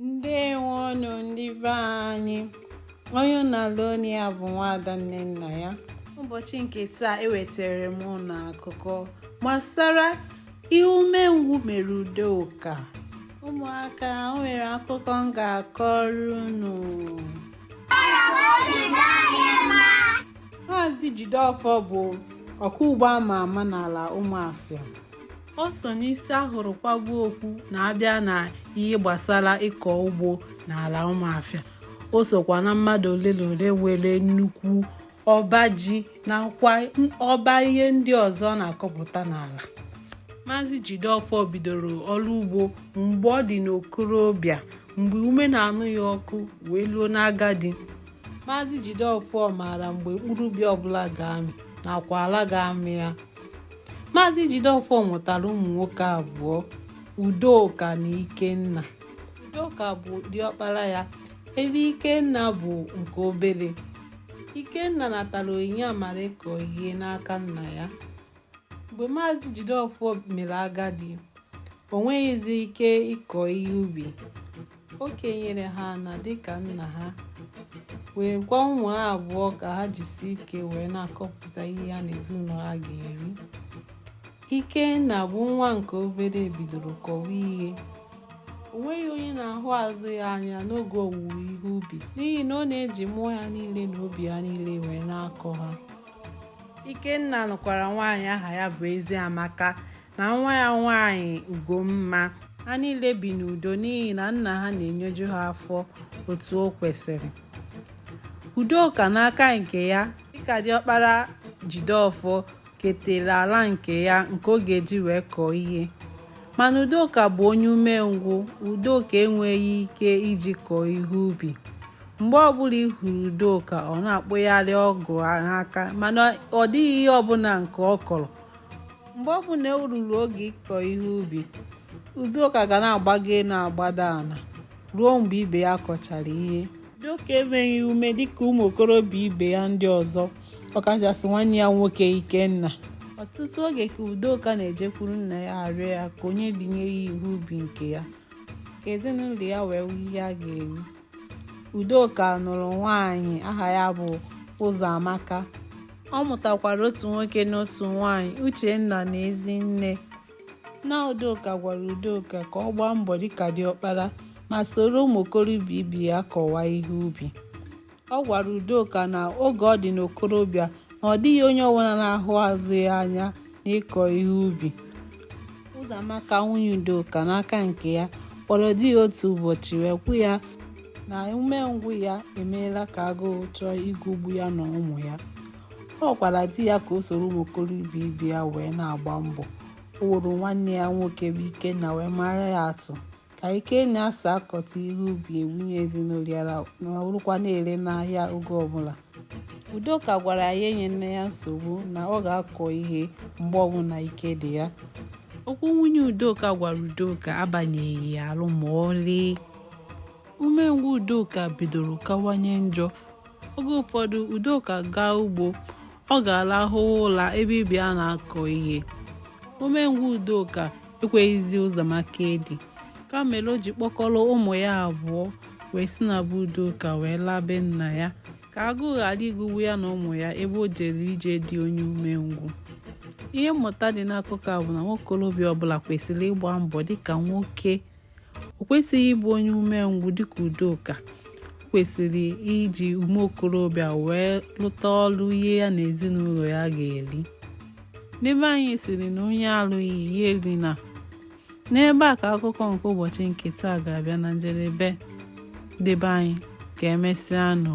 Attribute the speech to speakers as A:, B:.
A: ndewonụ ndị be anyị onye unu na-anụ olu ya bụ nwaada nnennaya ụbọchị nke taa ewetara m unu akụkọ gbasara ihe umengwụ mere udoka ụmụaka o nwere akụkọ m ga-akọrọ unu maazị jideọfọ bụ ọkọ ugbo a ma ama n'ala ụmụafịa ọ so n'isi a hụrụ kwaba okpu na a bịa na ihe gbasara ịkọ ugbo n'ala ụmụafịa o sokwa na mmadụ ole na ole nwere nnukwu ọba ji nakwa ọba ihe ndị ọzọ a na-akọpụta n'ala maazị Jideofor bidoro ọrụ ugbo mgbe ọ dị n'okorobịa mgbe ume na-anụ ya ọkụ wee luo n'agadi maazị Jideofor maara mgbe mkpụrụ ubi ọbụla ga-amị nakwa ala ga-amị ya Maazị Jideofor mụtara ụmụ nwoke abụọ Udoka na Ikenna Udoka bụ diọkpara ya ebe Ikenna bụ nke obere Ikenna natara onyinye amara ịkọ ihe n'aka nna ya mgbe Maazị Jideofor mere agadi o nweghịzi ike ịkọ ihe ubi o kenyere ha ana dịka nna ha wee gwa ụmụ ya abụọ ka ha jisi ike wee na-akọpụta ihe ha na ezinụlọ ha ga-eri ikenna bụ nwa nke obere bidoro kọwa ihe o nweghị onye na-ahụ azụ ya anya n'oge owuwe ihe ubi n'ihi na ọ na-eji mmụọ ya niile na obi ya niile wee na-akọ ha ikenna nụkwara nwaanyị aha ya bụ eziamaka na nwa ya nwaanyị Ugomma ha niile bi n'udo n'ihi na nna ha na-enyeju ha afọ otu o kwesịrị Udoka n'aka nke ya dịka diọkpara Jideọfọ ketere ala nke ya nke ọ ga-eji wee kọọ ihe mana Udoka bụ onye umengwụ Udoka enweghị ike iji kọọ ihe ubi mgbe ọbụla ị hụrụ Udoka ọ na-akpụgharị ọgụ n'aka mana ọ dịghị ihe ọbụla nke ọ kọrọ mgbe ọ bụla e ruru oge ịkọ ihe ubi udoka ga na-agbago elu agbada ala ruo mgbe ibe ya kọchara ihe udoka enweghị ume dịka ụmụ okorobịa ibe ya ndị ọzọ ọkachasị nwanne ya nwoke ikenna ọtụtụ oge ka udoka na-ejekwuru nna ya arịọ ya ka o nyebinye ya ihe ubi nke ya ka ezinụlọ ya nwee ihe ha ga-eri Udoka nụrụ nwaanyị aha ya bụ Ụzọamaka. Ọ mụtakwara otu nwoke na otu nwaanyị, Uchenna na Ezinne. Nna Udoka gwara Udoka ka ọ gbaa mbọ dịka diọkpara ma soro ụmụ okorobịa ibe ya kọwa ihe ubi. Ọ gwara Udoka na oge ọ dị n'okorobịa na ọ dịghị onye ọbụla na-ahụ azụ ya anya n'ịkọ ihe ubi. Ụzọamaka nwunye Udoka n'aka nke ya kpọrọ di ya otu ụbọchị wee kwu ya na umengwụ ya emeela ka agụụ chọọ igugbu ya na ụmụ ya ọ gwara di ya ka o soro ụmụ okorobịa ibe ya wee na-agba mbọ o woro nwanne ya nwoke bụ Ikenna wee mara ya atụ ka Ikenna si akọta ihe ubi ebunye ezinụlọ ya nọrọkwa na-ere n'ahịa oge ọbụla udoka gwara ya enyena ya nsogbu na ọ ga-akọ ihe mgbe ọbụla ike dị ya okwu nwunye udoka gwara udoka abanyeghị ya ahụ ma ọlị umengwụ udoka bidoro kawanye njọ oge ụfọdụ udoka gaa ugbo ọ ga-alahụ ụla ebe ibe ya na-akọ ihe umengwụ udoka ekweghịzi Ụzọamaka edi nke a mere o ji kpọkọrọ ụmụ ya abụọ wee si na be udoka wee laa be nna ya ka agụụ ghara igugbu ya na ụmụ ya ebe o jere ije di onye umengwụ ihe mmụta dị n'akụkọ a bụ na nwokorobịa ọbụla kwesịrị ịgba mbọ dịka nwoke o kwesịghị ịbụ onye umengwụ dịka udoka kwesịrị iji ume okorobịa wee lụta ọrụ ihe ya na ezinụlọ ya ga-eri ndị be anyị sịrị na onye alụghị ya erina n'ebe a ka akụkọ nke ụbọchị nke taa ga-abịa na njedebe ndị be anyị ka emesịa nụ